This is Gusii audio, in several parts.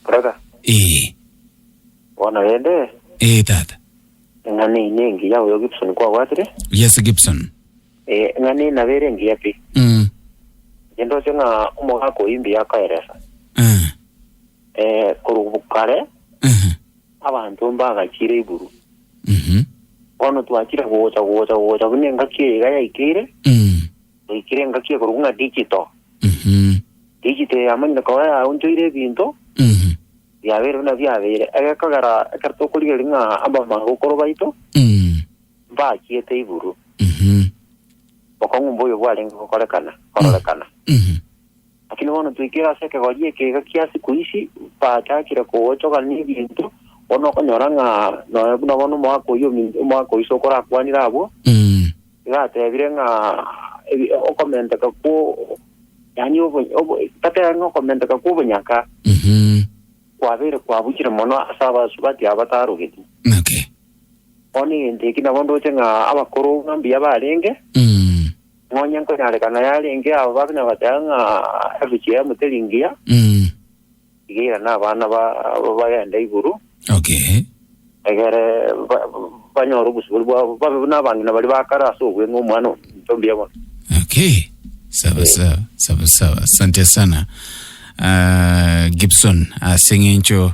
Brother, Ee, bono rende, ee tata. eng'ana eye nengiya oyo Gibson kwabwatire, Yes Gibson. eh, eng'ana eye nabo ere engiya pi. Mm. Inche ndoche ng'a omogaka oyi mbuya akoeresa. Eh. Eh, korwa bu- kare, Ehe. abanto mbagachire iburu. Mhm. Bono twachire gocha gocha gocha buna engaki eye iga yaikeire, Mm. Naikire engaki ekorokwa ng'a digito. Mhm. Digito eye yamanyire koba yaonchoire ebinto, Mhm. biabeire buna biabeire. Egekogera ekero tokorigereria ng'a abamabokoro baito Mhm. mbachiete iguru, Mhm. bokong'u mboyo bwarenge gokorekana, kororekana. Mhm. Lakini bono toikire ase ekegori eke egakia sikuisi bachakire kogochogana nebinto, bono okonyora ng'a nonya buna bono omogaka oyio omi- omogaka oiso okorakwanire abwo, Mm. iga atebire ng'a ebi- okomenteka kwo yaani obo- obo- tatebe ng'a okomenteka kw'obonyaka Mhm. kwabeire kwabuchire mono ase abasubati aba batarogeti. Okay. Bono egento eki nabo ndoche ng'a abakoro ng'a mbuya barenge, Mm. Nonya nkonyarekana yarenge abo bakina bateba ng'a ebichie ya moteri ngiya, Mm. iga irane abana ba abo bagende iguru, Okay. egere ba- banyore obosibori bwabo, babe buna abang'ina baria ba kare ase obweng'e omwana ominto mbuya bono. Okay. Sawa sawa, sawa sawa. Asante sana. Ah, Gibson, ase ng'encho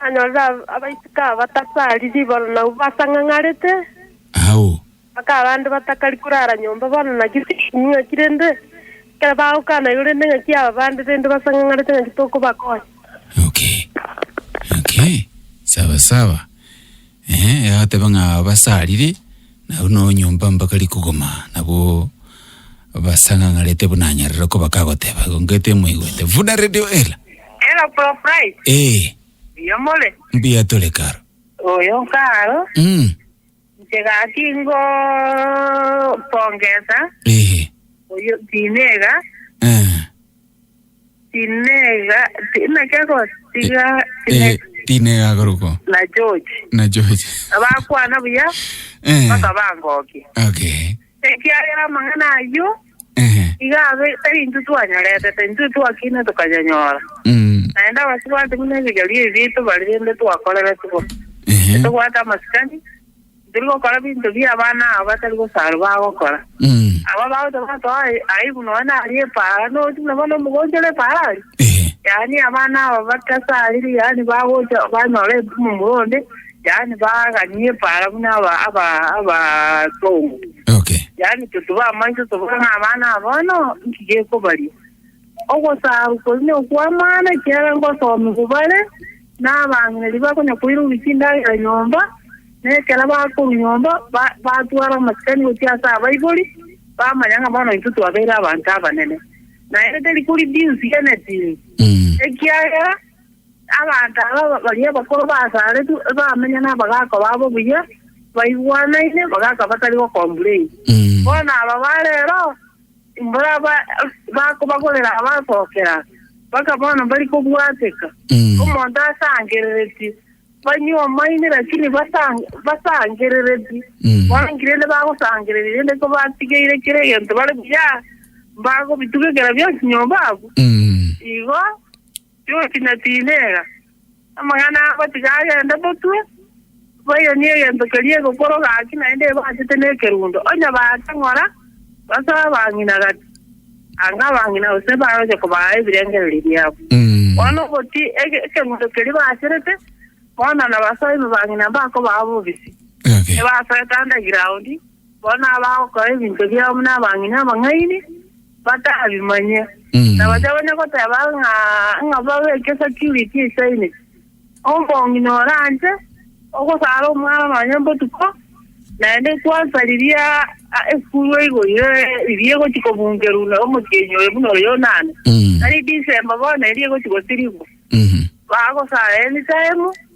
Akanyora abaiseke aba batasari ribaru na basang'ang'arete. Agwo. Mpaka abande batakari korara nyomba bono naki tinkonywa ng'aki rende, ekero bagokana igo rende ng'aki aba bande rende basang'ang'arete ng'aki tokobakonya. Okay. Okay. Sawa sawa. Ee, agateba ng'a basarire, na buna onyomba mpaka rikogoma, nabo basang'ang'arete buna anyarire koba kagoteba, igo ngete moigwete. Vuda radio ela. Ela pro flight. Ee, Iyo more. mbuya tore karo. Oyo karo. Mm. Nchegaki ngo pongesa. Ee. Oyo tinega. Eh. Tinega, tinege gotiga, tinege. Tinega agoruko. Na George. Na George. Abakwana buya, Eh. baka bangokia. Okay. Ekiagera amang'ana ayio, Eh. iga abe tari intwe twanyoretete, intwe twakine tukanyanyora. Mm. Naende abasibati buna ebigerio ebi tobari rende twakorerete bo. Eh. Tobwate amasikani, Tari gokora binto bi abana abo batari gosarwa bagokora. Aba bagocha batoa aibu nonya naria epaara, nonya na bono omogochi ore epaara aria. Eh. Yaani abana aba batasariri, yaani bagocha banyora ebu momura onde, yaani baganie epaara buna aba aba abasongo. Okay. Yaani totube amaiso tobore ng'a abana aba bono nki gekobaria. Ogosaarwa koria nokw'amaano, ekiagera nkosomwa bo bare, na abang'aini bakonya koiroria chindagera nyomba, na ekero bakorwa nyomba batwara amasikani gochia ase abaibori, bamanya ng'a bono intwe twabeire abanto abanene. Naende teri kori jinsi genetiri, ekiagera abanto aba baria abakoro basaaretwe bamenya na abagaaka babo buya, baigwanaine, abagaaka batari gocomplain. Bono aba ba rero. Mboria bakobagorera abasookera, bakabana mbari kobwateka. Omonto asangereretie, banywe amaini, lakini basangereretie, bangire inde bagosangereria, rende kobatigeire kera egento bare buya, mbagobitugekera bionsi nyomba abwo. Igo Njuki na tinega, amang'ana abo tiga agende botwe, bayonie egento keria egokoro gaki naende ebachete nekerundo, onye baake ng'ora, basoe abang'ina gati, anga abang'ina gose bagocha kobaa ebirengererio biabo. Bono boti ege- ekerundo keria bacherete, bono nabasoe ime bang'ina mbakobaa bobisi, Okay. ebasoe tanda giraondi, Bono abagokora ebinto biabo buna abang'ina abang'aini batabimanye, na baria bane goteba ng'a ng'a babe egesecurity esaine. Omong'ina ore anche ogosara omwana nonye botuko, naende ekwansa riria esukuru eigo ire riria egochia kobungerwa na omotienyi oye buna oyo onane, tari December bono eria egochia gotirigwa, bagosara anytime.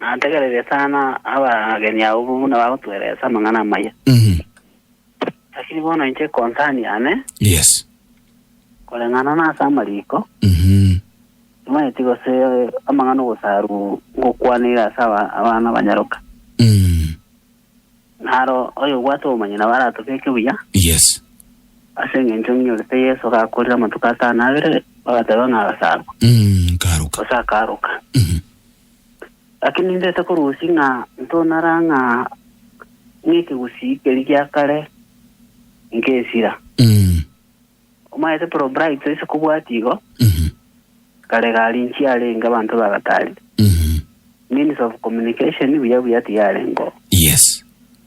Nategereire sana abageni abwo buna bagotweresa amang'ana amaya. Mhm. Lakini bono inche concern yane, Yes. koreng'ana nase amariko, Mhm. timanyeti gose amang'ana ogosaru ngokwaneire ase aba- abana banyaroka. Mm. Naro oyo obwate obomanyi nabo aratobeke buya, Yes. ase eng'encho ng'inyorete Yeso gakorire amatuko atano abere, bagateba ng'a agasarwa, Mm. Karuka. gose akaroka. Mhm. Gaki nindete korusia ng'a ntonara ng'a nekegusii keria gia kare nkesira. Mm. Omaete pro bright ase kobwati igo, Mhm. kare gari nchi yarenge abanto bagatari. Mhm. Means of communication buya buya tiyarengo. Yes.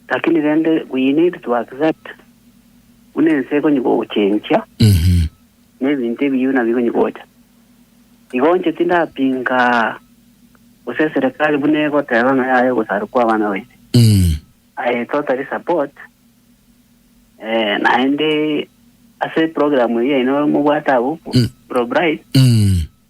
Lakini rende we need to accept buna ense ekonye gogochenchia Mhm. Nebinto ebiya buna bigonyigocha. Igocha tindapinga gose eserekari buna egoteba ng'a yaye ogosarwa kwa abana baito. Mm. I totally support eh, naende ase program eye yaino mobwate abwo Mm. Pro Bright Mm.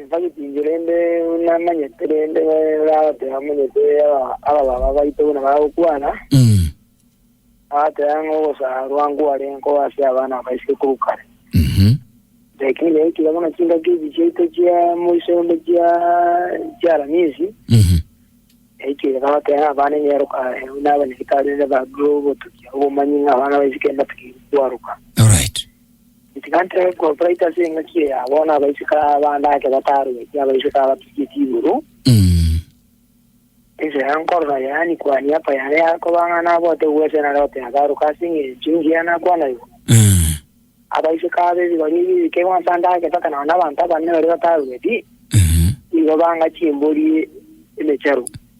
Ntagotingia rende buna amanyete, rende oragote amanyete abababa baito buna bagokwana, Mm. agateba ng'a ogosaarwa nkware nkoba ase abana aba isiko korwa kare. Mhm. Lakini yaikire buna chingaki echi chiaito chia moiso onde chia chiaramisi, Mhm. yaikire bagote ng'a abana ing'eroka aye, buna abanyagetari rende babe obotukia obomanyi ng'a abana ba isiko mbatakeire kwaroka. Alright. Ntiga ntebe kobaita ase engaki eye, bono abaiseke abande ake bataarogetie abaiseke abatugetie igoro. Ense ya nkorora yaani kuhani apa yare yakoba ng'a nabote gwesa na Loti agaruka ase eng'encho engiya nakwana igoro. Abaiseke aba ebi baria ebi ebikegwa ase ande ake mpaka nao nabanto abanene baria bataarogetie, nigo banga chimbori emecharu.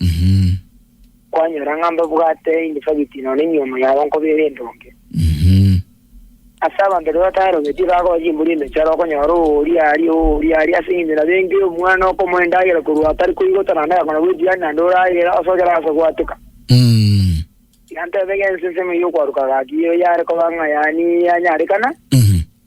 Mhm. Kwanyora ng'a mbabwate indifagiti nonya enyomo yabo nkobeera endonge. Mhm. Ase abanto rirorio bataerobetie bagoa chimbori emechara okonyora oooria aria oooria aria ase eng'encho nabo engira omwana okomoa endagera korwa atari koigota naende agakona goetira aria naende oragera ase otarase goatuka. Mm. Yantebege ensensemo ey'okwaruka gaki eye yare koba ng'a yaani yanyarekana. Mhm.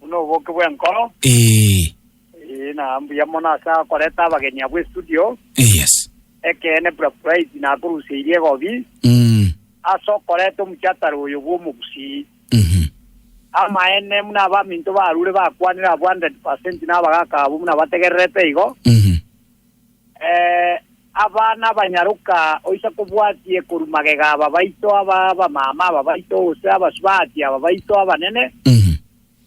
Buna oboke bw'enkoro. Ee. Ee, na mbuya mono ase akoreta abageni abwo estudio. Yes. Ekeene bura Praise nakoruseirie egobi. Mm. Ase okoreta omuchatara oyo bw'omogusii. Mhm. Amaene muna abaminto barure bakwanire abwo 100% nabagaka abwo muna bategererete igo. Mhm. Ee, aba nabanyaroka oisa kobwatie korwa magega a babaito, aba abamama a babaito, gose abasubati a babaito abanene,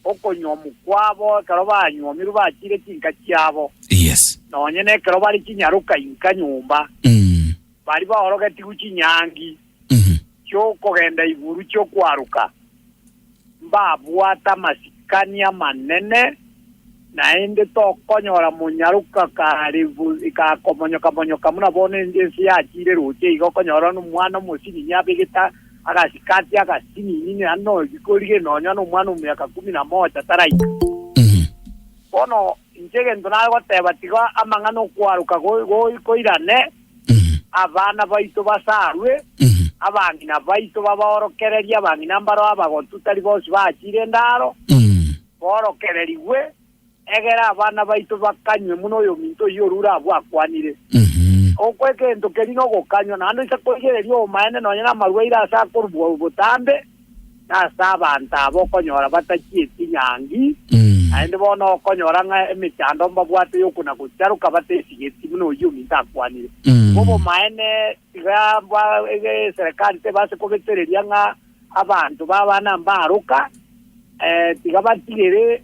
okonyuomu kwabo ekero banyuomirwe bachiire chinka chiabo, Yes. nonye nekero bare chinyaroka inka nyomba, baria baorogetigwe chinyangi. chi'okogenda iguru chi'okwaruka, mbabwate amasikani amanene, naende tokonyora monyaroka kare gakomonyoka-monyoka buna bono ense yachiire roche iga, okonyora omwana omosinini abegete agasikati agasinini naende noyoigwa orire nonya nomwana omiaka kumi na mocha taraika. Bono inche egento nare goteba tiga amang'ana okwaruka goirane, Abana baito basaarwe, abang'ina baito babaorokererie, abang'ina mbaro abagotu tari bonsi bachire endaaro, boorokererigwe, egera abana baito bakanywe buna oyominto oyio orure abwo akwanire. Ogokwa egento keria nogokanywa, naende oise koigereria obomaene nonya namarwaire ase akorubua botambe. Nase abanto aba okonyora batachieti nyangi, naende bono okonyora ng'a emechando mbabwate y'okona-gocharoka bataisigeti buna oyio ominto akwanire. Bw'obomaene, tiga ba, e, eserekari tebe ase kobetereria ng'a abanto b'abana mbaroka, eh, tiga batigere.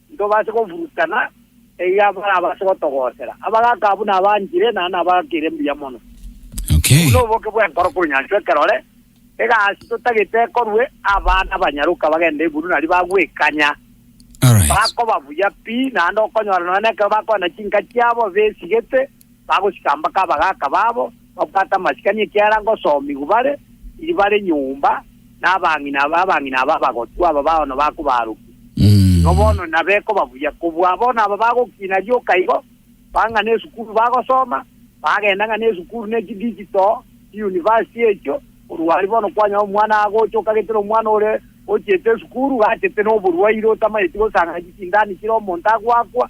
Ntobase gofurutana eyio barabase gotogoosera, abagaaka abwo nabaanchire na nabaakire mbuya mono. Okay. Buna oboke bw'enkoro konyanchwa ekerore, egasi totagete ekorwe, abana banyaroka bagende iguru nario bagwekanya. Alright. Bakoba buya pi, naende okonyora nonya nekero bakogenda chinka chiabo besigete, Bagochika mpaka abagaaka babo babwate amasikani ekiagera ngosoomigwa bare iri bare nyomba, na abang'ina abang'ina aba abagotwa aba bono bakobarokia. Igo bono nabekoba buya. Kobua bono aba bagokiina rioka igo, bang'ana esukuru bagosoma, bagenda ng'ana esukuru ne chidigital, chiuniversity echio, korwa aria bono kwanyora omwana agocha okagete nomwana ore ochiete esukuru, gachete noborwaire otamaeti gosang'ana chisindani chire omonto agoakwa,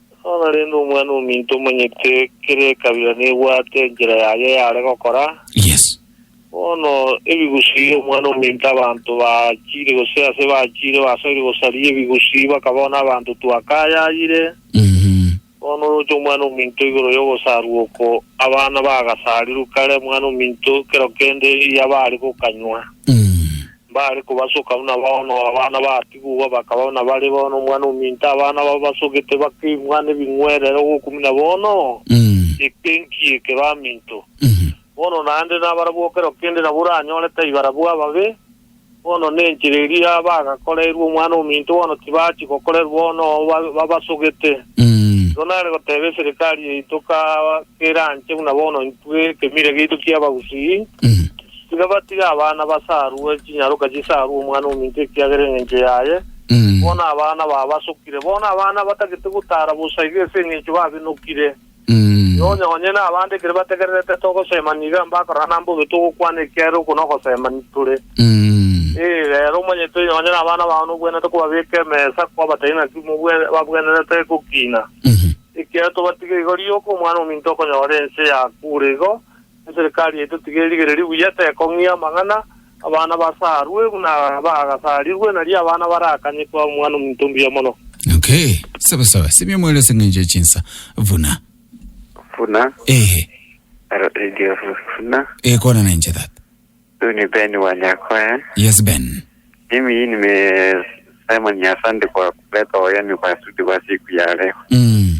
Nonya rende Omwana-o-minto omanyete kera ekabira nebwate enchera yaye y'are gokora. Yes. Bono ebigusii Omwana-o-minto abanto baachiire, gose ase baachiire basoire gosaria ebigusii, bakabao n'abanto twakayayire. Mhm. Bono oroche Omwana-o-minto igoro y'ogosarwa oko, abana bagasarirwe kare, Omwana-o-minto kero kende eyabare gokanywa. Mm. Mbare kobasoka buna bono abana batigugwa, bakaba buna bare bono omwana ominto abana babo basogete bakeng'wa nebing'werero gokumina bono eke enki eke baminto. Bono naende nabarabwo ekero kende nabo oranyore tai barabwo ababe, bono nenchera eria bagakoreirwe omwana ominto bono tibachi gokorerwa bono oo babasogete. Igo nare goteba eserikari yaito ka keranche buna bono intwe ekemira giaito ki'Abagusii, Tiga batige abana basarwe chinyaroka chisarwe omwana ominto ekiagera engencho yaye, bono abana babasokire, bono abana batagete gotara bosa iga ase engencho babenokire. Iga onye onye nabande ekero bategererete togosema niga mbakorana nambe obe togokwana ekiagera oko nogosema nitore. Ee, rero omanyete onye onye nabana bao nobwenerete kobabeka emesa kwabatari naki mobwe babwenerete gokina. Ekiagera tobatige igo rioka omwana ominto okonyora ense yakure igo, Eserekari yaito tiga erigereri buya, tekong'ia amang'ana, abana basaarwe buna bagasarirwe, nario abana barakanye kwa Omwana-o-minto mbuya mono. Okay, sawa sawa. Simia moere ase eng'encho ya chinsa. Buna. Buna. Ehe. Aro radio buna. Ehe, kwana na inche that. Huyu ni Ben wa Nyakoya. Yes, Ben. Mimi hii nime Simon Nyasandi kwa kuleta wageni kwa studio kwa siku ya leo. Mm.